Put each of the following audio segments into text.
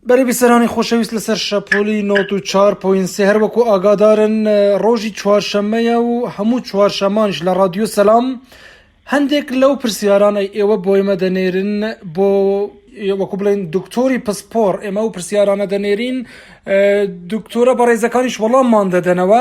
بەرەی بیسەرانی خۆشەویست لەسەر شەپۆلی نۆت و چار پۆین سێ هەر وەکو ئاگادارن ڕۆژی چوارشەممەیە و هەموو چوارشەمانش لە ڕادیۆ سەلام هەندێک لەو پرسیاران ئەی ئێوە بۆ ئێمە دەنێرن بۆ وەکو بڵێن دکتۆری پسپۆڕ ئێمە و پرسیارانە دەنێرین دکتۆرە بەڕێزەکانیش وەڵاممان دەدەنەوە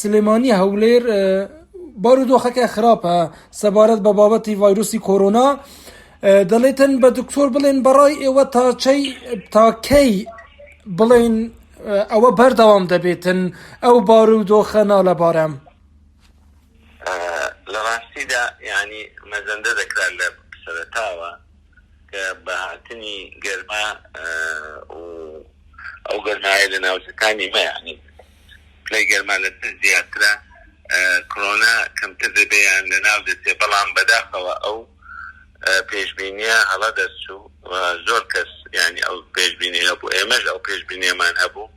سلێمانی هەولێر بارودۆخەکە خراپە سەبارەت بە بابەتی ڤایرۆسی کۆرۆنا دەڵێتن بە دکتۆر بڵێن بەڕای ئێوە تاچەی تاکەی بڵێن ئەوە بەردەوام دەبێتن ئەو بار و دۆخە نالەبارەم لە ڕاستیدا ینی مەزەندە دەکرا لە سەرتاوە کە بەهاتنی گەرما ئەو گەرمایە لە ناوچەکانی مەیانی پلەی گەرما لە سفر زیاترە کرۆنا کەمتر دەبێ یان لەناو دەچێ بەڵام بەداخەوە ئەو پێشبینیە هەڵە دەرچوو و زۆر کەس یانی ئەو پێشبینی هەبوو ئێمەش ئەو پێشبینیەمان هەبوو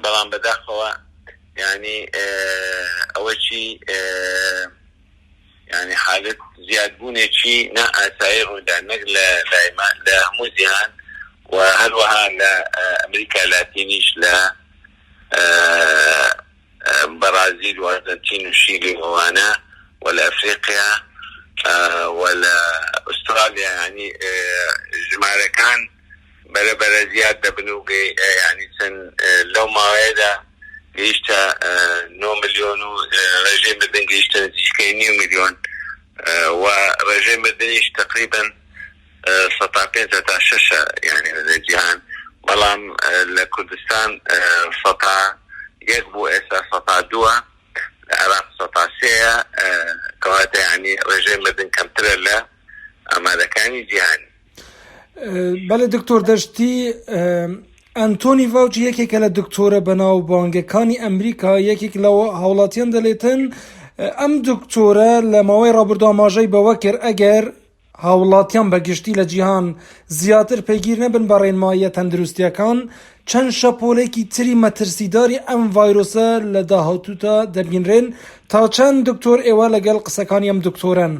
بەڵام بەداخەوە یانی ئەوەچی یانی حالت زیادبوونێکی نا ئاسایی ڕوودا نەک لە لایمان لە هەموو جیهان و هەروەها لە ئەمریکا لاتینیش لە بەڕازیل و ئەرجەنتین و شیلی و ئەوانە و لە ئەفریقیا و لە ئوسترالیا یانی ژمارەکان بەرە بەرە زیاد دەبن و یانی چەند لەو ماوەیەدا گەیشتە نۆ ملیۆن و ڕێژەی مردن گەیشتە نزیکەی نیو ملیۆن و ڕێژەی مردنیش تقریبا سەتا پێنج هەتا شەشە یانی لە جیهان بەڵام لە کوردستان سەتا یەک بوو ئێستا سەتا دووە لە عێراق سەتا سێیە کەواتە یانی ڕێژەی مردن کەمترە لە ئامارەکانی جیهانی بەڵێ دکتۆر دەشتی ئەنتۆنی ڤاوچی یەکێکە لە دکتۆرە بەناو بانگەکانی ئەمریکا یەکێک لە هاوڵاتیان دەلێتن ئەم دکتۆرە لە ماوەی ڕابردواماژەی بەوە کرد ئەگەر هاوڵاتیان بە گشتی لە جیهان زیاتر پەیگیر نەبن بە ڕێنماییە تەندروستییەکان، چەند شەپۆلێکی تری مەترسیداری ئەم ڤایرۆسە لە داهاتوودا دەبینرێن، تا چەند دکتۆر ئێوە لەگەڵ قسەکانی ئەم دکتۆرەن؟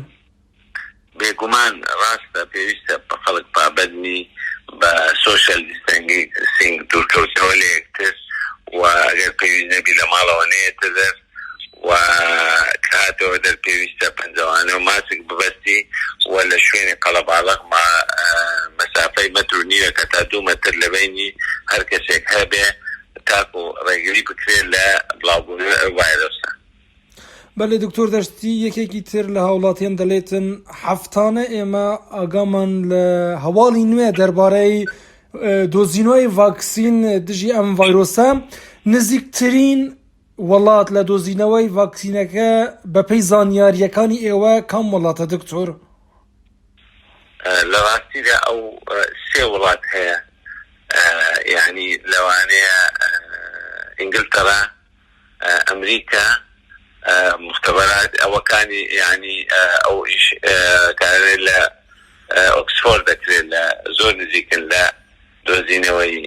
بێگومان ڕاستە پێویستە خەڵک پابەندبی بە سۆشیال دیستەنسینگ، دوورکەوتنەوە لە یەکتر، و ئەگەر پێویست نەبی لە ماڵەوە نەیەتە دەر. و کاتەوە دەر پێویستە پەنجەوانە و ماسک ببەستی و لە شوێنی قەڵەباڵغ ما مەسافەی مەتر و نیوێک تا دوو مەتر لە بەینی هەر کەسێک هەبێ تاکو ڕێگری بکرێ لە بڵاو بوونەوەی ئەو ڤایرۆسە. بەلێ دکتۆر دەشتی یەکێکی تر لە هاوڵاتیان دەلێتن هەفتانە ئێمە ئاگامان لە هەواڵی نوێ دەربارەی دۆزینەوەی ڤاکسین دژی ئەم ڤایرۆسە نزیکترین وڵات لە دۆزینەوەی ڤاکسینەکە بەپێی زانیارییەکانی ئێوە کام وڵاتە دکتۆر؟ لە ڕاستیدا ئەو سێ وڵات هەیە یانی لەوانەیە ئینگلتەرا ئەمریکا مختبرات ئەوەکانی یانی ئەو ئیش کارێ لە ئۆکسفۆرد دەکرێت لە زۆر نزیکن لە دۆزینەوەی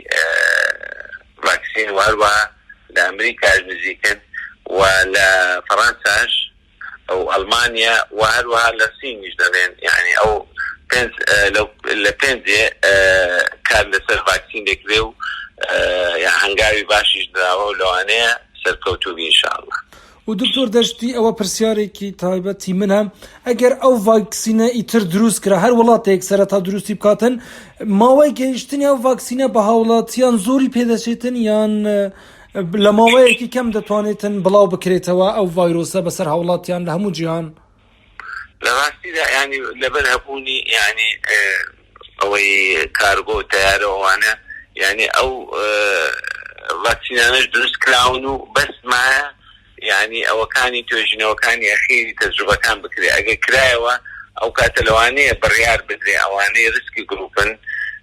ڤاکسین و هەروەها لە ئەمریکاش نزیکن و لە فەڕەنساش و ئەڵمانیا و هەروەها لە سینیش دەڵێن یانی ئەو پێنج لە پێنجێ کار لەسەر ڤاکسین دەکرێ و هەنگاوی باشیش دراوە و لەوانەیە سەرکەوتوو بی ان شاء اللە. و دکتۆر دەشتی ئەوە پرسیارێکی تایبەتی منە ئەگەر ئەو ڤاکسینە ئیتر دروست کرا هەر وڵاتێک سەرەتا دروستی بکاتن ماوەی گەیشتنی ئەو ڤاکسینە بە هاوڵاتیان زۆری پێدەچێتن یان لە ماوەیەکی کەم دەتوانێتن بڵاو بکرێتەوە ئەو ڤایرۆسە بەسەر هاوڵاتیان لە هەموو جیهان لەڕاستیدا یانی لەبەر هەبوونی یانی ئەوەی کارگۆ و تەیارە و ئەوانە یانی ئەو ڤاکسینانەش دروست کراون و بەس مایە یانی ئەوەکانی توێژینەوەکانی ئەخیری تەجروبەکان بکرێ ئەگەر کرایەوە ئەو کاتە لەوانەیە بڕیار بدرێ ئەوانەی ریسکی گروپن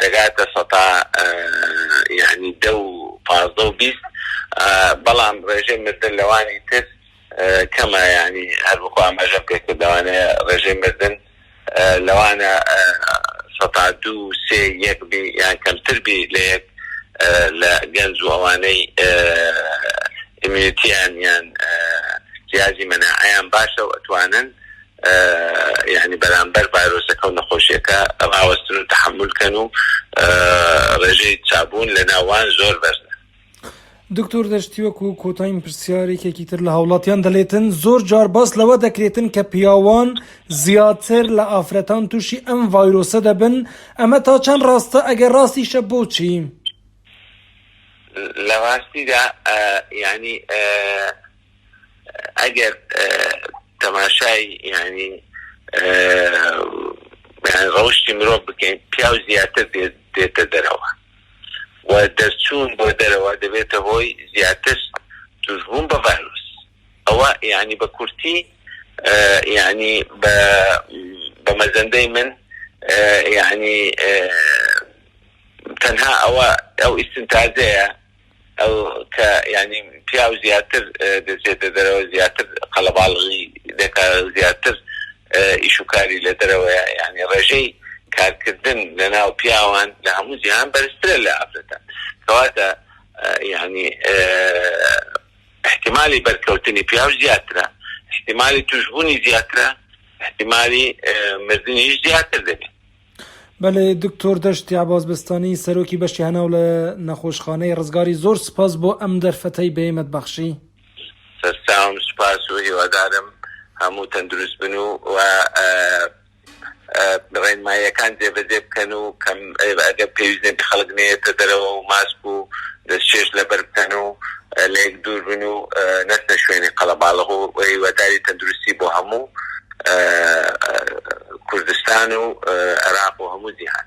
دەگاتە سەتا یانی دە و پازدە و بیست بەڵام ڕێژەی مردن لەوانی تر کەمە یانی هەروەکو ئاماژەم پێ کرد لەوانەیە ڕێژەی مردن لەوانە سەتا دوو و سێ یەک بی یان کەمتر بی لە یەک لە گەنج و ئەوانەی ئیمیونیتیان یان جیازی مەناعەیان باشە و ئەتوانن یانی بەرامبەر ڤایرۆسەکە و نەخۆشیەکە ڕاوەستن و تەحەمول کەن و ڕێژەی چابوون لە ناوان زۆر بەرزە. دکتۆر دەشتی وەکو کۆتاین پرسیار یەکێکی تر لە هاوڵاتیان دەلێتن زۆر جار باس لەوە دەکرێتن کە پیاوان زیاتر لە ئافرەتان تووشی ئەم ڤایرۆسە دەبن ئەمە تا چەند ڕاستە ئەگەر ڕاستیشە بۆچی؟ لە ڕاستیدا یانی ئەگەر تەماشای یانی ڕەوشی مرۆڤ بکەین پیاو زیاتر دێتە دەرەوە و دەرچوون بۆ دەرەوە دەبێتە هۆی زیاتر توشبوون بە ڤایرۆس ئەوە یعنی بە کورتی یعنی بە مەزەندەی من یعنی تەنها ئەوە ئەو ئیسنتازەیە ئەو کە یانی پیاو زیاتر دەچێتە دەرەوە زیاتر قەلەباڵغی دەکا زیاتر ئیش و کاری لە دەرەوەیە یانی ڕێژەی کارکردن لە ناو پیاوان لە هەموو جیهان بەرزترە لە ئافرەتان کەواتە یانی ئیحتیمالی بەرکەوتنی پیاو زیاترە ئیحتیمالی تووشبوونی زیاترە ئیحتیمالی مردنیش زیاتر دەبێ. بەلێ دکتۆر دەشتی عەباس بەستانی سەرۆکی بەشی هەناو لە نەخۆشخانەی رزگاری زۆر سپاس بۆ ئەم دەرفەتەی بەیمەت بەخشی. سەرسام سوپاس و هیوادارم هەموو تەندروست بن و رێنماییەکان جێبەجێ بکەن و ئەگەر پێویست نەبی خەڵک نەیەتە دەرەوە و ماسک و دەستچێش لەبەر بکەن و لەیەک دوور بن و نەچنە شوێنی قەڵەباڵغ و هیواداری تەندروستی بۆ هەموو کوردستان و عێراق و هەموو جیهان.